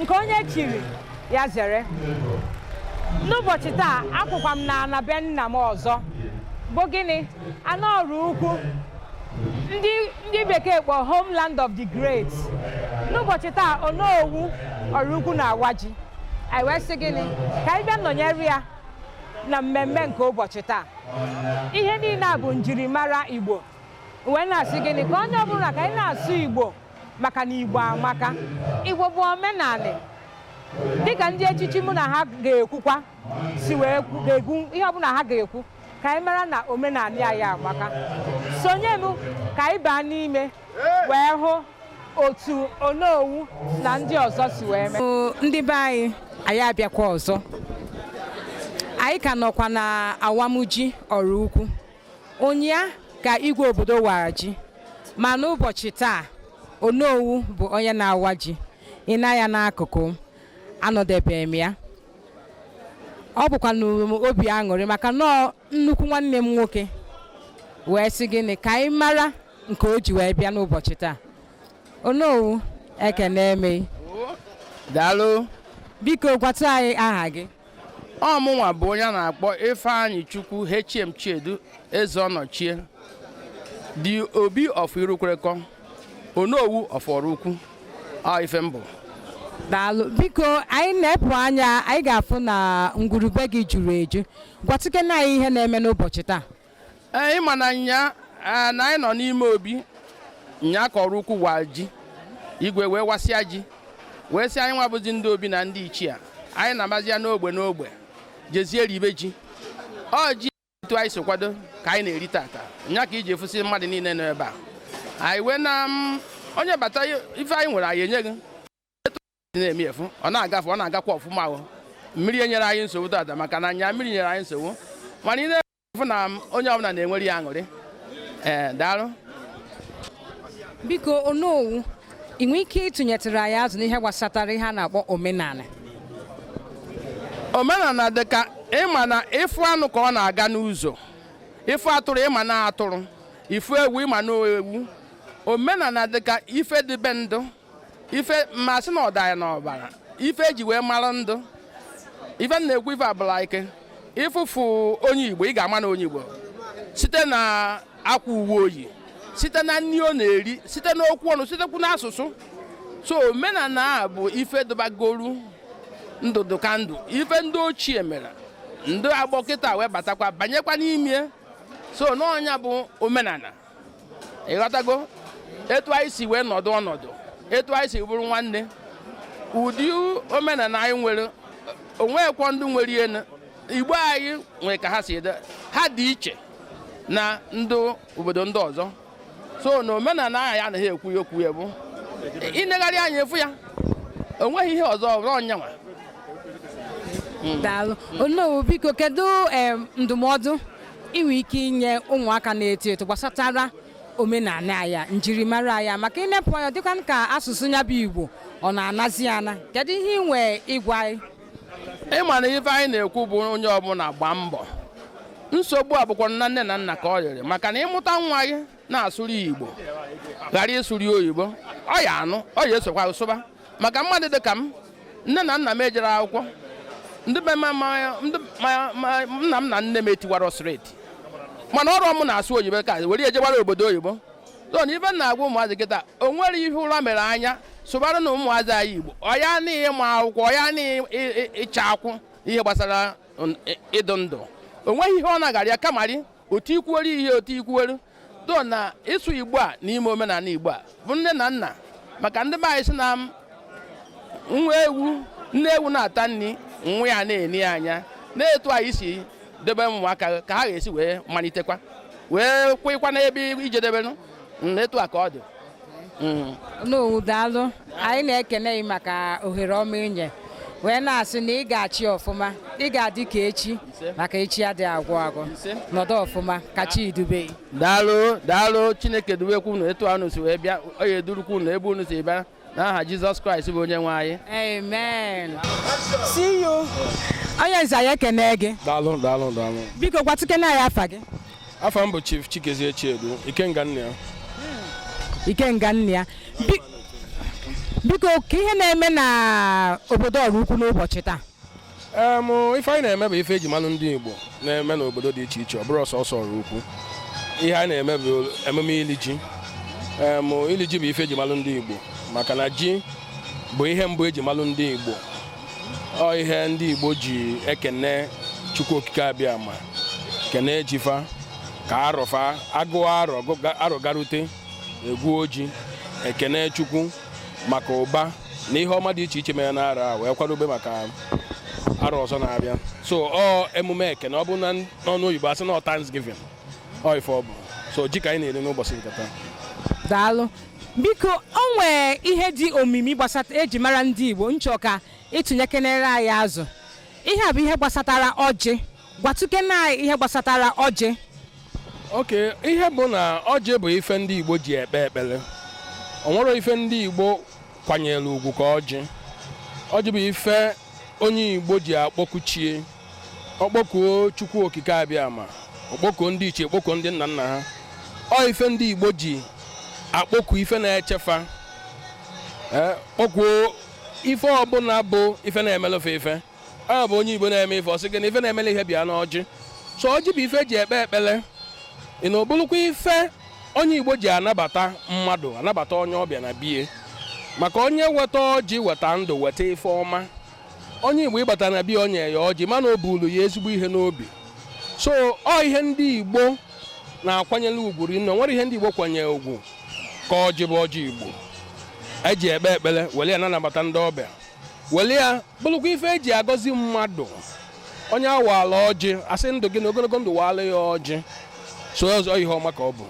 nke onye chiri ya zere n'ụbọchị taa akwụkwa m na ana be nna m ọzọ bụ gịnị ana Ọraukwu ndị bekee kpọ homeland of the great n'ụbọchị taa onowu Ọraukwu na-awa ji anyị wee sị gịnị ka anyị bịa nọnyere ya na mmemme nke ụbọchị taa ihe niile a bụ njirimara igbo wee na-asị gịnị ka onye ọbụla ka anyị na-asụ igbo maka na Igbo amaka Igbo bụ omenanị dịka ndị echichi mụ na ha ga-ekwukwa si wee ga-ekwu ihe ọbụla ha ga-ekwu ka anyị mara na omenanị anyị amaka sonye m ka anyị baa n'ime wee hụ otu onowu na ndị ọzọ si wee mee ndị be anyị anyị abịakwa ọzọ anyị ka nọkwa na awamji Ọraukwu ụnyaa ka igwe obodo wara ji ma n'ụbọchị taa onowu bụ onye na-awa ji i nee anya n'akụkụ anọdebe m ya ọ bụkwanụrụ m obi aṅụrị maka na nnukwu nwanne m nwoke wee sị gịnị ka anyị mara nke o ji wee bịa n'ụbọchị taa onowu ekenee m gị daalụ biko gwatụ anyị aha gị ọ mụnwa bụ onye a na-akpọ Ifeanyichukwu HM Chiedu Ezeọnọchie the Obi of Irukwerekọ Onowu of Ọraukwu ọ ife m bụ daalụ biko anyị nepụ anya anyị ga-afụ na ngwurube gị juru eju gwatụkene anyị ihe na-eme n'ụbọchị taa ee ị ma na nyaa na anyị nọ n'ime obi nyaa ka Ọraukwu wa ji igwe wee wasịa ji wee sị anyị nwa bụzi ndị obi na ndị ichie anyị na-amazi ya n'ogbe n'ogbe jezie ribe ji ọ ji etu anyị si kwado ka anyị na-eri tata nya ka i ji afụsị mmadụ niile nọ ebe a anyị wee na onye bata ife anyị nwere anyị enye gị na-eme efu ọ na-agafe ọ na-agakwa ọfụma ahụ mmiri enyerọ anyị nsogbu tata maka na nyaa mmiri nyere anyị nsogbu mana ị na-afụ na onye ọbụla na-enwere ya aṅụrị ee daalụ biko onowu ị nwee ike ịtụnyetụrụ anyị azụ n'ihe gbasatara ihe a na-akpọ omenala omenala dị ka ịma na ịfụ anụ ka ọ na-aga n'ụzọ ịfụ atụrụ ịma na atụrụ ịfụ ewu ịma na ewu omenala dị ka ife dịbe ndụ ife m ma-asị na ọ dụ anyị n'ọbara ife eji wee mara ndụ ife na-ekwu ife abụla ike ịfụfụ onye igbo ị ga-ama na onye igbo site na akwa uwe o yi site na nri ọ na-eri site n'okwu ọnụ sitekwu n'asụsụ so omenala a bụ ife dụbagoro ndụdụgandụ ife ndị ochie mere ndị agbọ kịta wee batakwa banyekwa n'ime so na ọ nya bụ omenala ịghọtago etu anyị si wee nọdụ ọnọdụ etu anyị si bụrụ nwanne ụdị omenala anyị nwere o nwekwọ ndị nwere ihe igbo anyị nwere ka ha si dị ha dị iche na ndị obodo ndị ọzọ so na omenala anyị anaghị ekwu ya okwu ya bụ i negharịa anya ị fụ ya o nweghị ihe ọzọ ọbụla ọ nyanwa hmm. daalụ onowu biko kedu ndụmọdụ i nwe ike inye ụmụaka na-eto eto gbasatara omenala anyị njirimara anyị maka i nepụ anya ọ dịkwa ka asụsụ anyị bụ igbo ọ na-anazi ana kedu ihe ị nwee ịgwa anyị ị ma na ife anyị na-ekwu bụ onye ọbụla gbaa mbọ nsogbu a bụkwa na nne na nna ka ọ rịrị maka na ị mụta nwa gị na-asụrụ ya igbo ghara ịsụrụ ya oyibo ọ ya-anụ ọ ya-esokwa sụba maka mmadụ dị ka m nne na nna m ejere akwụkwọ ndị be ma- ma- ndị ma- ma- nna m na nne m etiwara slate mana ọrụ m na-asụ oyibo ka were ya jewara obodo oyibo so na ife m na-agwa ụmụazị kịta o nwere ihe ọbụla mere anyị sụbaranụ ụmụazị anyị igbo ọ ya na ịma akwụkwọ ọ ya na ị- ị- ịchụ akụ ihe gbasara n- ị- ịdụ ndụ o nweghị ihe ọ na-agara ya kama ọ rị otu i kwuwere ihe otu i kwuwere dụ na ịsụ igbo a na ime omenala igbo a bụ nne na nna maka ndị be anyị sị na nwa ewu nne ewu na-ata nri nwa ya na-ene ya anya na etu anyị si debe ụmụaka ka ha ga-esi wee malitekwa wee kwekwa n'ebe i jedeberu etu a ka ọ dị onowu daalụ anyị na-ekene gị maka ohere ọma i nye wee na-asị na ị ga-achị ọfụma ị ga-adị ka echi maka echi adị agwụ agwụ nọdụ ọfụma ka chi dube daalụ daalụ chineke dubekwu unu etu unu si wee bịa ọ ya-edurukwu unu ebe unu si bịa n'aha jizọs kraịst bụ onye nwe anyị amen isee onye nze anyị ekene gị daalụ daalụ daalụ biko gwatụkene anyị afa gị afa m bụ Chief Chikezie Chiedu Ikenga nna ya Ikenga nna ya biko kee ihe na-eme na obodo Ọraukwu n'ụbọchị taa ife anyị na-eme bụ ife e ji malụ ndị Igbo na-eme n'obodo dị iche iche ọ bụrọ sọsọ Ọraukwu ihe anyị na-eme bụ emume ili ji ili ji bụ ife e ji malụ ndị Igbo maka na ji bụ ihe mbụ e ji malụ ndị Igbo ọ ihe ndị Igbo ji ekene Chukwu Okike Abịama ekene e ji fa ka arọ fa a gụọ arọ arọ garute egwuo ji ekene Chukwu maka ụba na ihe ọma dị iche iche mere n'arọ a wee kwadobe maka arọ ọzọ na-abịa so ọ emume ekene ọ bụ na n'ọnụ oyibo a sị na ọ Thanksgiving ọ ife ọ bụ so ji ka anyị na-eri n'ụbọchị nke taa daalụ biko o nwee ihe dị omimi gbasata eji mara ndị igbo m chọ ka ị tụnyekenere anyị azụ ihe a bụ ihe gbasatara ọjị gwatukene anyị ihe gbasatara ọjị okay ihe bụ na ọjị bụ ife ndị igbo ji ekpe ekpele o nwerọ ife ndị igbo kwanyelu ugwu ka ọjị ọjị bụ ife onye Igbo ji akpọku chi e ọ kpọkuo Chukwu Okike Abịama ọ kpọkuo ndị ichie kpọkuo ndị nna nna ha ọ ife ndị Igbo ji akpọku ife na-eche fa eh, kpọkuo ife ọbụla bụ ife na-emelụ fa ife ya bụ onye Igbo na-eme ife ọ sị gị na ife na-emele ihe bi n'ọjị so ọjị bụ ife eji ekpe ekpele ị na ọ bụlụkwa ife onye Igbo ji anabata mmadụ anabata onye ọbịa na be ya maka onye weta ọjị weta ndụ weta ife ọma onye Igbo ị bata na be ya o nye ya ọjị ma na o bulu ya ezigbo ihe n'obi so ọ ihe ndị Igbo na-akwanyere ugwu rinne o nwerọ ihe ndị Igbo kwanyere ugwu ka ọjị bụ ọjị Igbo eji ekpe ekpele wele ya na-anabata ndị ọbịa wele ya bụlụkwa ife eji agọzi mmadụ onye a waala ọjị a sị ndụ gị na ogologo ndụ waala ya ọjị so ọ sọ ihe ọma ka ọ bụ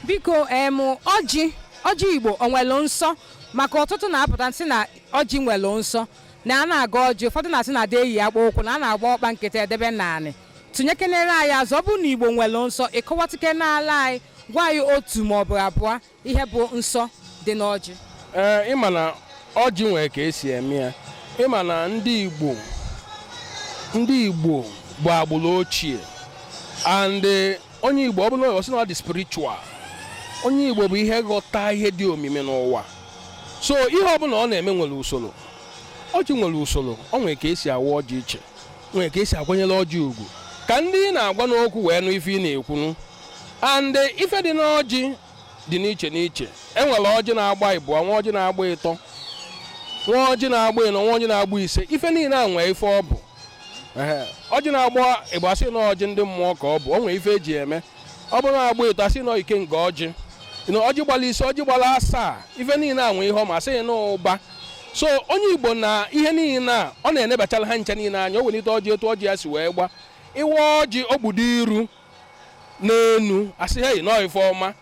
biko em ọjị ọjị igbo o nwere nsọ maka ọtụtụ na-apụta sị na ọjị nwere nsọ na a na-agọ ọjị ụfọdụ na-asị na a da eyi akpụ ụkwụ na a na-agba ọkpa nkịtị edebe n'anị tụnyekenere anyị azụ ọ bụ na igbo nwere nsọ ị kọwatụkenelụ anyị gwa anyị otu maọbụ abụọ ihe bụ nsọ dị n'ọjị ee ị ma na ọjị nwere ka esi eme ya ị ma na ndị igbo ndị igbo bụ agbụrụ ochie and eh, onye igbo ọ bụla oyibo sị na ọ dị spiritual onye igbo bụ ihe ghọta ihe dị omimi n'ụwa so ihe ọ bụla ọ na-eme nwere usoro ọjị nwere usoro o nwere ka esi awa ọjị iche nwere ka esi akwanyere ọjị ugwu ka ndị ị na-agwanụ okwu wee nụ ife ị na-ekwunu and eh, ife dị n'ọjị dị n'iche n'iche enwere ọjị na-agba ịbụọ nwee ọjị na-agba ịtọ nwee ọjị na-agba ịnọ nwee ọjị na-agba ise ife niile a nwee ife ọ bụ ọjị na-agba ịbụa a sị na ọjị ndị mmụọ ka ọ bụ o nwee ife eji eme ọ bụrụ na ọ gba ịtọ a sị na ikenga ọjị na ọjị gbara ise ọjị gbara asaa ife niile a nwee ihe ọma a sị na ụba so onye igbo na ihe niile a ọ na-enebachara ha ncha niile anya o welite ọjị etu ọjị ya si wee gba ị wa ọjị o gbudo iru n'enu a sị hei na ọ ife ọma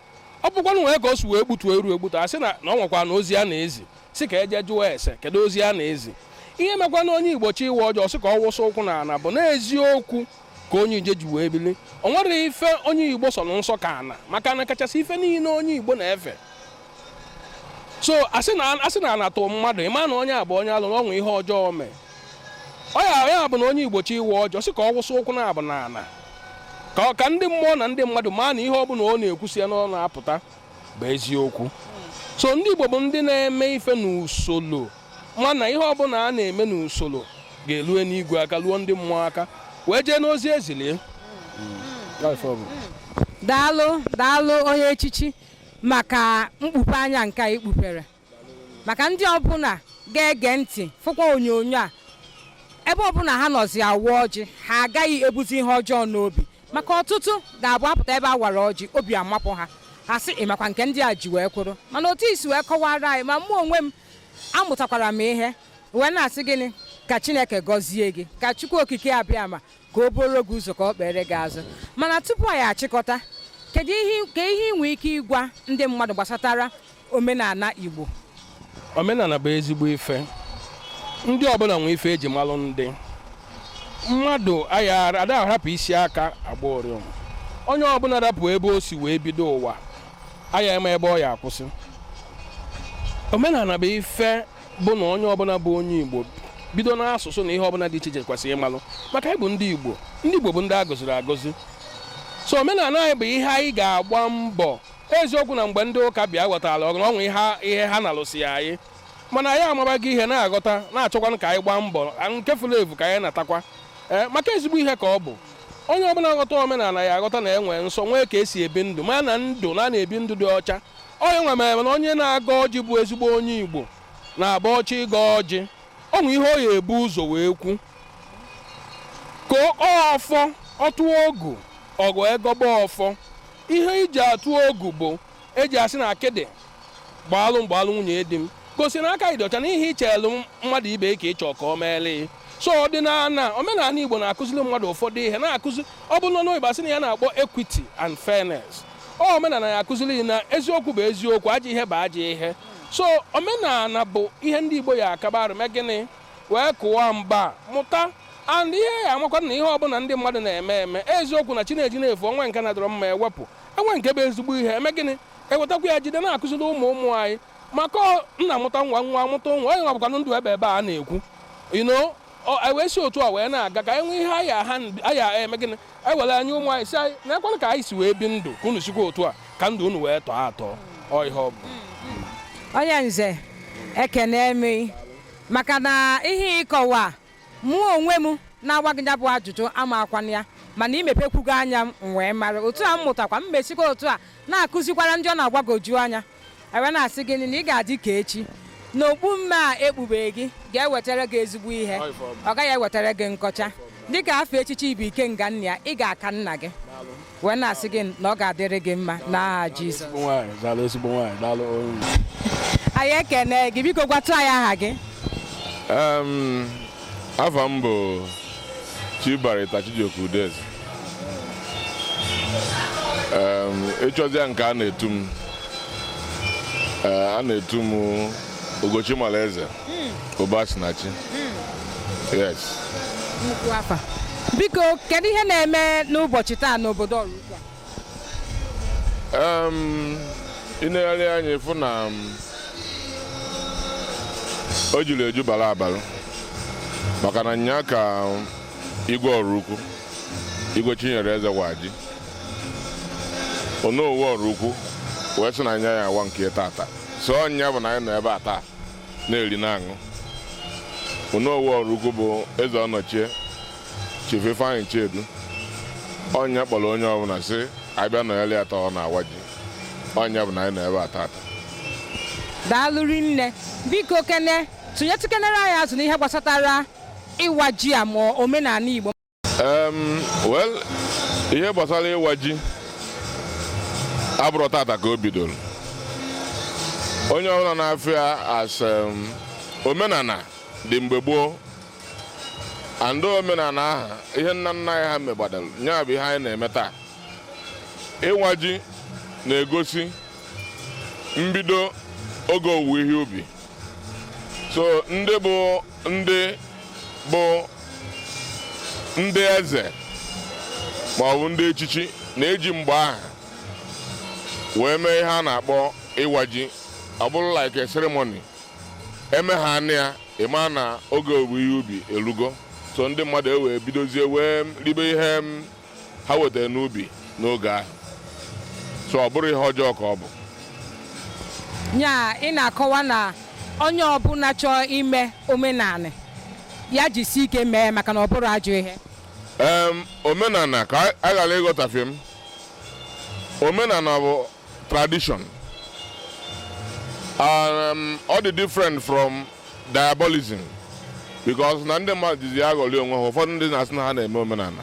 ọ bụkwanụ nwee ka o si wee gbutuo iru egbutu a sị na o nwekwanụ ozi a na-ezi sị ka e jee jụọ ese kedu ozi a na-ezi ihe mekwanụ onye igbo chọ ịwa ọjị ọ sị ka ọ wụsị ụkwụ na ana bụ n'eziokwu ka onye ije ji wee bili o nwerọ ife onye igbo sọ nsọ ka ana maka na ọ kachasị ife niile onye igbo na-efe so a sị na ana tụ mmadụ ị ma na onye a bụ onye alụ na o nwe ihe ọjọọ o mee ọ ya ya bụ na onye igbo chọ ịwa ọjị ọ sị ka ọ wụsị ụkwụ naabọ n'ala ka ndị mmụọ na ndị mmadụ maa na ihe ọ bụla ọ na-ekwusi ya n'ọnụ apụta bụ eziokwu so ndị igbo bụ ndị na-eme ife n'usoro mana ihe ọbụla a na-eme n'usoro ga-elu enigwe aka luo ndị mmụọ aka wee jee n'ozi e zili ya daalụ daalụ onye echichi maka mkpupe anya nke a i kpupere maka ndị ọbụla ga-ege ntị fụkwa onyonyo a ebe ọbụla ha nọzi awa ọjị ha agaghị ebuzi ihe ọjọọ n'obi maka ọtụtụ ga-abụ ha pụta ebe a wara ọjị obi amapụ ha ha sị ịmakwa nke ndị a ji wee kwụrụ mana otu i si wee kọwara anyị ma mụ onwe m amụtakwara m ihe wee na-asị gịnị ka chineke gọzie gị ka chukwu okike abịama ka o buoro gị ụzọ ka o kpeere gị azụ mana tupu anyị achịkọta kedu ihe i nwee ike ịgwa ndị mmadụ gbasatara omenala Igbo omenala bụ ezigbo ife ndị ọbụla nwee ife e ji malụ ndị mmadụ ada arapụ isi aka agba ụrịọm onye ọbụla rapụ ebe o si wee bido ụwa aya ama ebe ọ ya akwụsị omenala bụ ife bụ na onye ọbụla bụ onye Igbo bido n'asụsụ na ihe ọbụla dị iche iche kwesịrị ịmalụ maka anyị bụ ndị Igbo ndị Igbo bụ ndị a gọziri agọzi so omenala anyị bụ ihe anyị ga-agba mbọ eziokwu na mgbe ndị ụka bịa ghọtara ọgụ na ọnwa ihe ha na-alụsị anyị mana anyị amabago ihe na-aghọta na-achọkwanụ ka anyị gbaa mbọ nke furu efu ka anyị natakwa maka ezigbo ihe ka ọ bụ onye ọbụla ghọta omenala ya aghọta na e nwe nsọ nwee ka e si ebi ndụ ma na ndụ na-ebi ndụ dị ọcha ọ ya nwa mere na onye na-agọ ọjị bụ ezigbo onye Igbo na-abụ ọ chọ ịgọ ọjị o nwe ihe ọ ya ebu ụzọ wee kwu ka ọfọ ọ tụọ ogu ọgụ egọba ọfọ ihe e ji atụ ogu bụ e ji asị na akịdị gbaalụ m gbaalụ nwunye di m gosi na aka ị dị ọcha na ihe i chelu mmadụ ibe ka ị chọ ka o meelụ ị so ọdịnala omenala igbo na-akụziri mmadụ ụfọdụ ihe na-akụzi ọ bụ nọ n'oyibo a sị na ihe a na-akpọ equity and fairness ọ omenala na-akụziri ị na eziokwu bụ eziokwu ajọ ihe bụ ajọ ihe so omenala bụ ihe ndị igbo ya akaba arụ mee gịnị wee kụwa mgba mụta and ihe ya amakwa na ihe ọbụla ndị mmadụ na-eme eme eziokwu na chi na-eji na-efo o nwe nke na-adịrọ mma e wepụ e nwe nke bụ ezigbo ihe e mee gịnị e wetakwa ya jide na-akụziri ụmụ ụmụ anyị maka nna mụta nwa nwa amụta nwa ọ ya nwa bụkwanụ ndụ ebeebe a na-ekwu you know e wee si otu a wee na-aga ka e nwee ihe a ya-eme gịnị e were nye ụmụ anyị sị nekwanụ ka anyị si wee bi ndụ ka unu sikwa otu a ka ndụ unu wee tọọ atọ ọ ihe ọ bụ onye nze ekenee m ị maka na ihe ị kọwa mụ onwe m na-agwa gị ya bụ ajụjụ amakwanụ ya mana i mepekwugo anya m wee mara otu a m mụtakwa m mesikwa otu a na-akụzikwara ndị ọ na-agwagoju anya ewee na-asị gị na ị ga-adị ka echi na okpu mme a ekpubere gị ga-ewetara gị ezigbo ihe ọ gaghị ewetara gị nkọcha dịka afa echichi ị bu Ikenga nna ya ị ga-aka nna gị wee na-asị gị na ọ ga-adịrị gị mma n'aha Jizọs anyị ekene gị biko gwatụ anyị aha gị Afa m bụ Chief Barrister Chijioke Udeze ị chọzịa nke a na-etu m a na-etu m Ugochi Malaeze Ụbasinachi yes Nnukwu afa. Biko, kedu ihe na-eme n'ụbọchị taa n'obodo Ọraukwu a? ị negharịa anya ị fụ na o juru eju bara abara maka na nnyaa ka Igwe Ọraukwu Igwe Chinyere Eze waa ji Onowu Ọraukwu wee sị na nya ya-awa nke tata so ọ nya bụ na anyị nọ ebe a taa na-eri na-aṅụ Onowu Ọraukwu bụ Eze Ọnọchie Chief Ifeanyi Chiedu ọ nya kpọrọ onye ọbụla sị a bịa nọrịa taa ọ na-awa ji ọ nya bụ na anyị nọ ebe a tata daalụ rinne biko kene tụnyetụkenere anyị azụ n'ihe gbasatara ịwa ji a ma omenala Igbo well ihe gbasara ịwa ji abụrụ tata ka o bidoro onye ọbụla na-afụ ya as omenala dị mgbe gboo and omenala aha ihe nna nna anyị ha megbadara nya bụ ihe anyị na-eme taa ịwa ji na-egosi mbido oge owuwe ihe ubi so ndị bụ ndị bụ ndị eze ma ọ bụ ndị echichi na-eji mgbe aha wee mee ihe a na-akpọ ịwa ji ọ bụrụ like a ceremony emehanị ya ị ma na oge owuwe ihe ubi elugo so ndị mmadụ ewee bidozie wee ribe ihe ha wetara n'ubi n'oge ahụ so ọ bụrụ ihe ọjọọ ka ọ bụ nya ị na-akọwa na onye ọbụla chọọ ime omenala ya jisi ike mee maka na ọ bụrụ ajọ ihe omenala ka a ghara ịghọtafie m omenala bụ tradition um, ọ dị different from diabolism because na ndị mmadụ jizi aghọrị onwe ha ụfọdụ ndị na-asị na ha na-eme omenala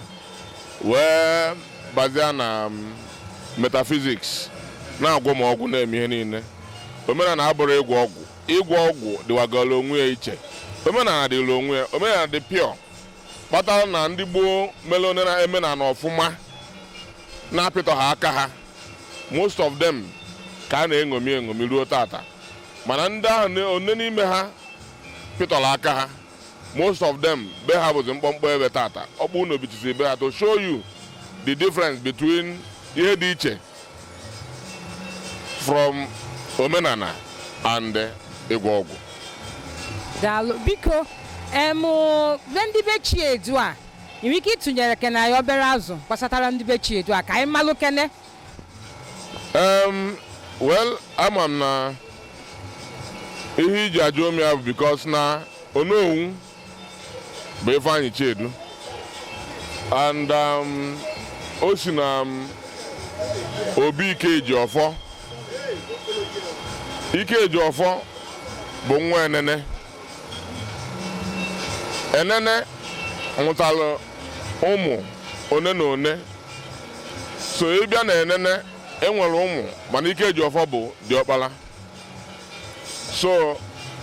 wee bazia na um, metaphysics na-agwọ ma ọgwụ na-eme ihe niile omenala abụrụ ịgwọ ọgwụ ịgwọ ọgwụ dịwagara onwe ya iche omenala dịrị onwe ya omenala dị pure kpatara na ndị gboo mere omenala ọfụma na-apịtọ ha aka ha most of them ka a na-eṅomi eṅomi ruo tata mana ndị ahụ one n'ime ha pịtọrọ aka ha most of them be ha bụzi mkpọmkpọ ebe tata ọkpụnọ bichizi be ha to show you the difference between ihe dị iche from omenana and ịgwọ ọgwụ daalụ biko em ndị be Chiedu a ị nwere ike ịtụnyere kene anyị obere azụ gbasatara ndị be Chiedu a ka anyị malụ kene Em, well ama m na ihe i ji ajụ m ya bụ because na onowu bụ Ifeanyi Chiedu and um, o si na um, obi Ikejiọfọ Ikejiọfọ bụ nwa Enene enene mụtara ụmụ one na one so ị bịa na enene e nwere ụmụ mana Ikejiọfọ bụ diọkpala so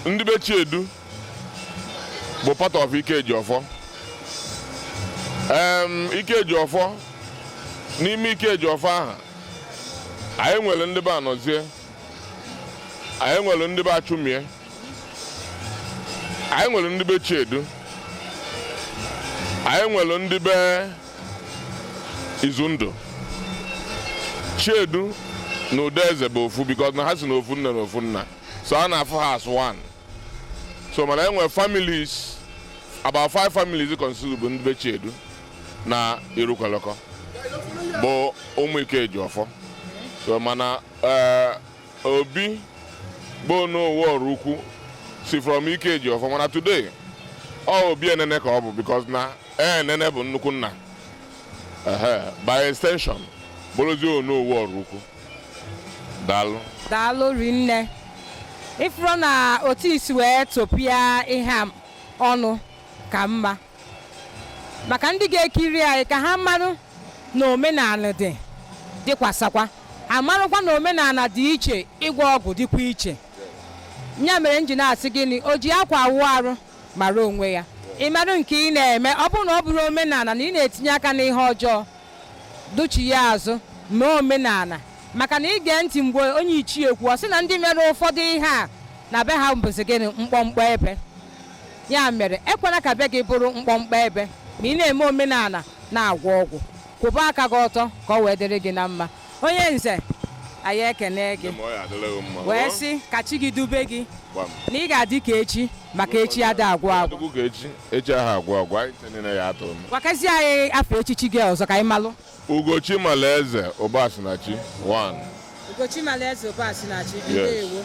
ndị be chiedu bụ part of Ikejiọfọ Ikejiọfọ n'ime Ikejiọfọ ahụ anyị nwere ndị be anọzie anyị nwere ndị be achụmie anyị nwere ndị be Chiedu anyị nwere ndị be Izundụ Chiedu na Udeze bụ ofu because na ha si na ofu nne na ofu nna so a na-afụ ha as one so mana e nwere families about five families consider bụ ndị be Chiedu na Irukwelekọ bụ ụmụ Ikejiọfọ so mana eh, Obi bụ onowu Ọraukwu si from Ikejiọfọ mana today ọ obi enene ka ọ bụ because na enene bụ nnukwu nna by extension bụrụzi onowu Ọraukwu daalụ daalụ rinne ị fụrụ na otu i si wee tọpịa ihe ọnụ ka mma maka ndị ga-ekiri anyị ka ha marụ na omenana dị dịkwasakwa ha marụkwa na omenana dị iche ịgwọ ọgwụ dịkwa iche ya mere m ji na-asị gịnị o ji akwa awụ arụ mara onwe ya ị marụ nke ị na-eme ọ bụrụ na ọ bụrọ omenana na ị na-etinye aka n'ihe ọjọọ duchi ya azụ mee omenana maka na ị gee ntị mgbe onye ichie kwuo sị na ndị mere ụfọdụ ihe a na be ha bụzi gịnị mkpọmkpọ ebe ya mere ekwela ka be gị bụrụ mkpọmkpọ ebe ma ị na-eme omenala na-agwọ ọgwụ kwụba aka gị ọtọ ka ọ wee dịrị gị na mma onye nze anyị ekene gị wee sị ka chi gị dube gị na ị ga-adị ka echi maka echi ada agwụ agwụ gwakazie anyị afa echichi gị ọzọ ka anyị malụ ugochi malaeze ụbasinachi 1 ugochi malaeze ụbasinachi ndewo